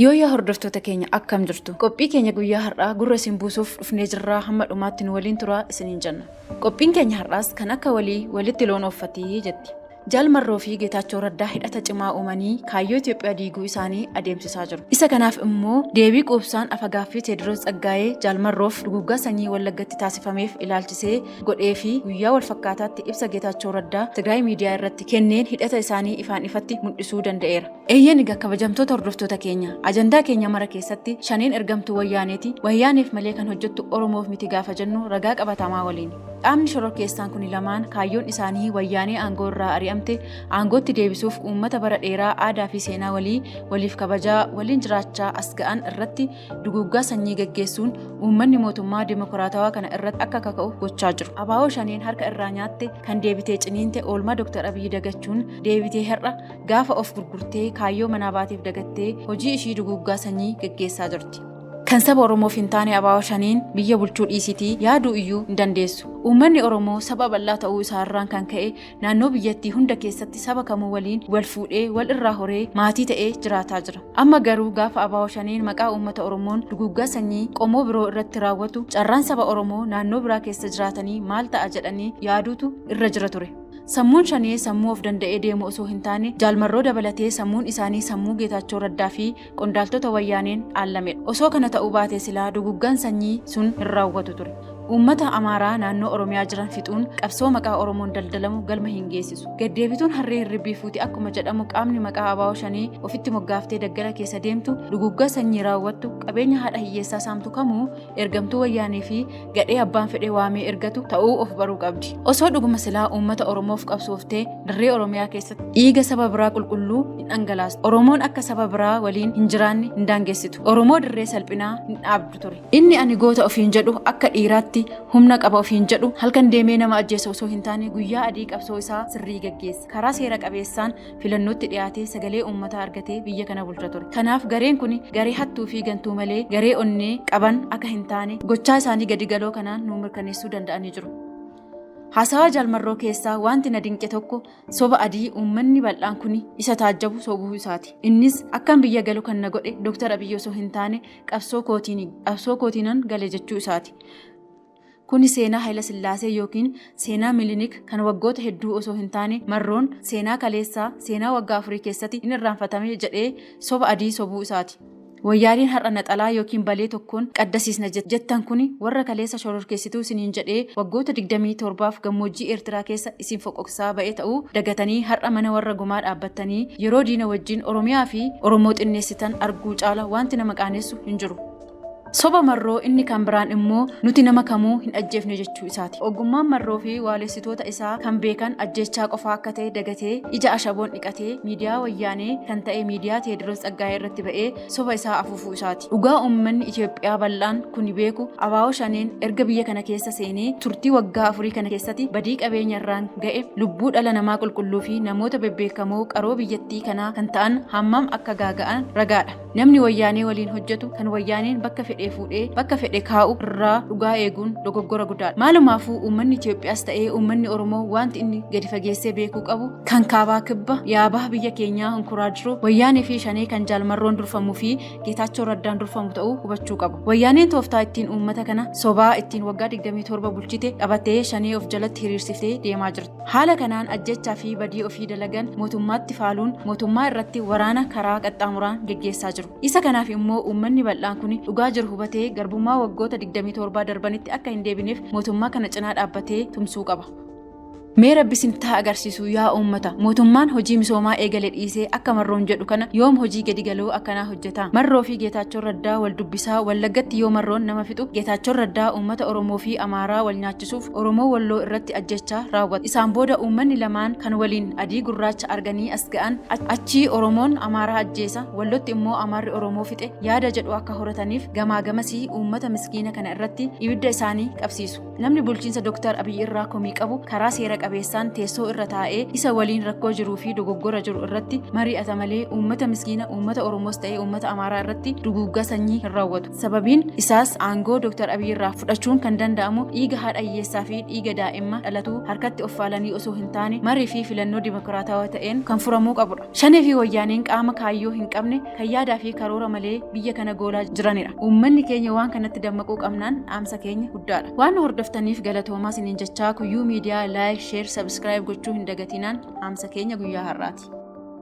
Yooyyaa hordoftoota keenya akkam jirtu? Qophii keenya guyyaa har'aa gurra isin buusuuf dhufnee jirraa hamma dhumaatti nu waliin turaa isiniin jenna. Qophiin keenya har'aas kan akka walii walitti loon ooffatii jetti. Jaal Marroo fi Geetaachoo Raddaa hidhata cimaa uumanii kaayyoo Itoophiyaa diiguu isaanii adeemsisaa jiru. Isa kanaaf immoo deebii quubsaan afagaaffii Teediroos Tsaggaayee Jaal Marroof duguuggaa sanyii Wallaggatti taasifameef ilaalchisee godhee fi guyyaa wal fakkaataatti ibsa Geetaachoo Raddaa Tigraay miidiyaa irratti kenneen hidhata isaanii ifaan ifatti mul'isuu danda'eera. Eeyyeen egaa kabajamtoota hordoftoota keenya ajandaa keenya mara keessatti shaneen ergamtuu wayyaaneeti wayyaaneef malee kan hojjettu oromoof miti gaafa jennu ragaa qabatamaa waliin qaamni shororkeessaan kuni lamaan kaayyoon isaanii wayyaanee aangoo irraa ari'amte aangootti deebisuuf uummata bara dheeraa aadaa fi seenaa walii waliif kabajaa waliin jiraachaa as ga'an irratti duguuggaa sanyii gaggeessuun uummanni mootummaa dimokiraatawaa kana irratti akka kaka'u gochaa jiru abaa'oo shaneen harka irraa nyaatte kan deebitee ciniinte oolmaa dooktar abiyyi dagachuun deebitee har'a Gaafa of gurgurtee kaayyoo manaa baateef dagattee hojii ishii duguuggaa sanyii geggeessaa jirti. Kan saba Oromoof hin taane abaawoo shaniin biyya bulchuu dhiisitii yaaduu iyyuu hin dandeessu. Uummanni Oromoo saba bal'aa ta'uu isaa irraan kan ka'e naannoo biyyattii hunda keessatti saba kamuu waliin wal fuudhee wal irraa horee maatii ta'ee jiraataa jira. Amma garuu gaafa abaawoo shaneen maqaa uummata Oromoon duguuggaa sanyii qomoo biroo irratti raawwatu carraan saba Oromoo naannoo biraa keessa jiraatanii maal ta'a jedhanii yaaduutu irra jira ture. Sammuun shanee sammuu of danda'ee deemu osoo hin taane Jaal Marroo dabalatee sammuun isaanii sammuu Geetaachoo Raddaa fi qondaaltota wayyaaneen dhaallamedha. Osoo kana ta'uu baatee silaa duguggaan sanyii sun hin raawwatu ture. Uummata Amaaraa naannoo Oromiyaa jiran fixuun qabsoo maqaa Oromoon daldalamu galma hin geessisu. Gaddeebituun harree hirribbii fuuti akkuma jedhamu qaamni maqaa abaa'oo shanee ofitti moggaaftee daggala keessa deemtu duguggaa sanyii raawwattu qabeenya haadha hiyyeessaa saamtu kamuu ergamtuu wayyaanee fi gadhee abbaan fedhee waamee ergatu ta'uu of baruu qabdi. Osoo dhuguma silaa uummata Oromoof qabsooftee dirree Oromiyaa keessatti dhiiga saba biraa qulqulluu hin dhangalaastu. Oromoon akka saba biraa waliin hin jiraanne hin daangessitu. Oromoo dirree salphinaa hin dhaabdu ture. Inni ani goota ofiin jedhu akka dhiiraatti humna qaba ofiin jedhu halkan deemee nama ajjeesu osoo hin taane guyyaa adii qabsoo isaa sirrii gaggeessa. Karaa seera qabeessaan filannootti dhiyaatee sagalee uummataa argatee biyya kana bulcha ture. Kanaaf gareen kun garee hattuu fi gantuu malee garee onnee qaban akka hin taane gochaa isaanii gadi galoo kanaan nuu mirkaneessuu danda'anii jiru. Haasawaa jaalmarroo keessaa wanti na dinqe tokko soba adii uummanni bal'aan kun isa taajjabu sobuu isaati. Innis akkan biyya galu kan na godhe Dooktar Abiyyi osoo hin taane qabsoo kootiinan gale jechuu isaati. Kuni seenaa Hayilasillaasee ykn seenaa Milinik kan waggoota hedduu osoo hin taane marroon seenaa kaleessaa, seenaa waggaa afurii keessati hin irraanfatame jedhee soba adii sobuu isaati. Wayyaaneen har'a naxalaa ykn balee tokkoon qaddasiisna jettan kuni warra kaleessa shororkeessituu isiniin jedhee waggoota 27f gammoojjii Eertiraa keessa isin foqoqsaa ba'e ta'uu dagatanii har'a mana warra gumaa dhaabbattanii yeroo diina wajjin Oromiyaa fi Oromoo xinneessitan arguu caala waanti nama qaanessu hin jiru. Soba Marroo inni kan biraan immoo nuti nama kamuu hin ajjeefne jechuu isaati. Ogummaan Marroo fi waalessitoota isaa kan beekan ajjeechaa qofaa akka ta'e dagatee ija ashaboon dhiqatee miidiyaa wayyaanee kan ta'e miidiyaa Teediroos Tsaggaayee irratti ba'ee soba isaa afuufuu isaati. Dhugaa uummanni Itoophiyaa bal'aan kuni beeku Abaawoo Shaneen erga biyya kana keessa seenee turtii waggaa afurii kana keessatti badii qabeenya irraan ga'e lubbuu dhala namaa qulqulluu fi namoota bebbeekamoo qaroo biyyattii kanaa kan ta'an hammam akka gaaga'an ragaadha. Namni wayyaanee waliin hojjetu kan wayyaaneen bakka fedhee fuudhee bakka fedhe kaa'u irraa dhugaa eeguun dogoggora guddaadha. Maalumaafuu uummanni Itoophiyaas ta'ee uummanni Oromoo wanti inni gadi fageessee beekuu qabu kan kaabaa kibba yaabaha biyya keenyaa hunkuraa jiru wayyaanee fi shanee kan jaalmarroon durfamuu fi geetaachoo raddaan durfamu ta'uu hubachuu qabu. Wayyaaneen tooftaa ittiin uummata kana sobaa ittiin waggaa 27 bulchite qabattee shanee of jalatti hiriirsiftee deemaa jirti. Haala kanaan ajjeechaa fi badii ofii dalagan mootummaatti faaluun mootummaa irratti waraana karaa qaxxaamuraan geggeessaa jiru. Isa kanaaf immoo uummanni bal'aan kun dhugaa jiru hubatee garbummaa waggoota 27 darbanitti akka hin deebineef mootummaa kana cinaa dhaabbatee tumsuu qaba. Mee rabbi isin taa agarsiisu yaa uummata mootummaan hojii misoomaa eegale dhiisee akka marroon jedhu kana yoom hojii gadi galoo akkanaa hojjeta marroo fi geetaachoon raddaa wal dubbisaa wallaggatti yoo marroon nama fixu geetaachoon raddaa uummata oromoo fi amaaraa wal nyaachisa ittisuuf Oromoo Walloo irratti ajjechaa raawwate. Isaan booda uummanni lamaan kan waliin adii gurraacha arganii as ga'an achii Oromoon Amaaraa ajjeesa, Wallotti immoo Amaarri Oromoo fixe yaada jedhu akka horataniif gamaa gamasii uummata miskiina kana irratti ibidda isaanii qabsiisu. Namni bulchiinsa Dr. Abiy irraa komii qabu karaa seera qabeessaan teessoo irra taa'ee isa waliin rakkoo jiruu fi dogoggora jiru irratti mari'ata malee uummata miskiina uummata Oromoos ta'ee uummata Amaaraa irratti duguuggaa sanyii hin raawwatu. Sababiin isaas aangoo Dr. Abiy irraa fudhachuun kan danda'amu dhiiga haadha hiyyeessaa fi dhiiga daa'imma dhalatuu harkatti of faalanii osoo hin taane marii fi filannoo dimokiraatawaa ta'een kan furamuu qabudha. Shanee fi wayyaaneen qaama kaayyoo hin qabne kan yaadaa fi karoora malee biyya kana goolaa jiranidha. Uummanni keenya waan kanatti dammaquu qabnaan dhaamsa keenya guddaadha. Waan hordoftaniif galatoomaa isiniin jechaa kuyyuu miidiyaa like, share, subscribe gochuu hin dagatinaan dhaamsa keenya guyyaa har'aati.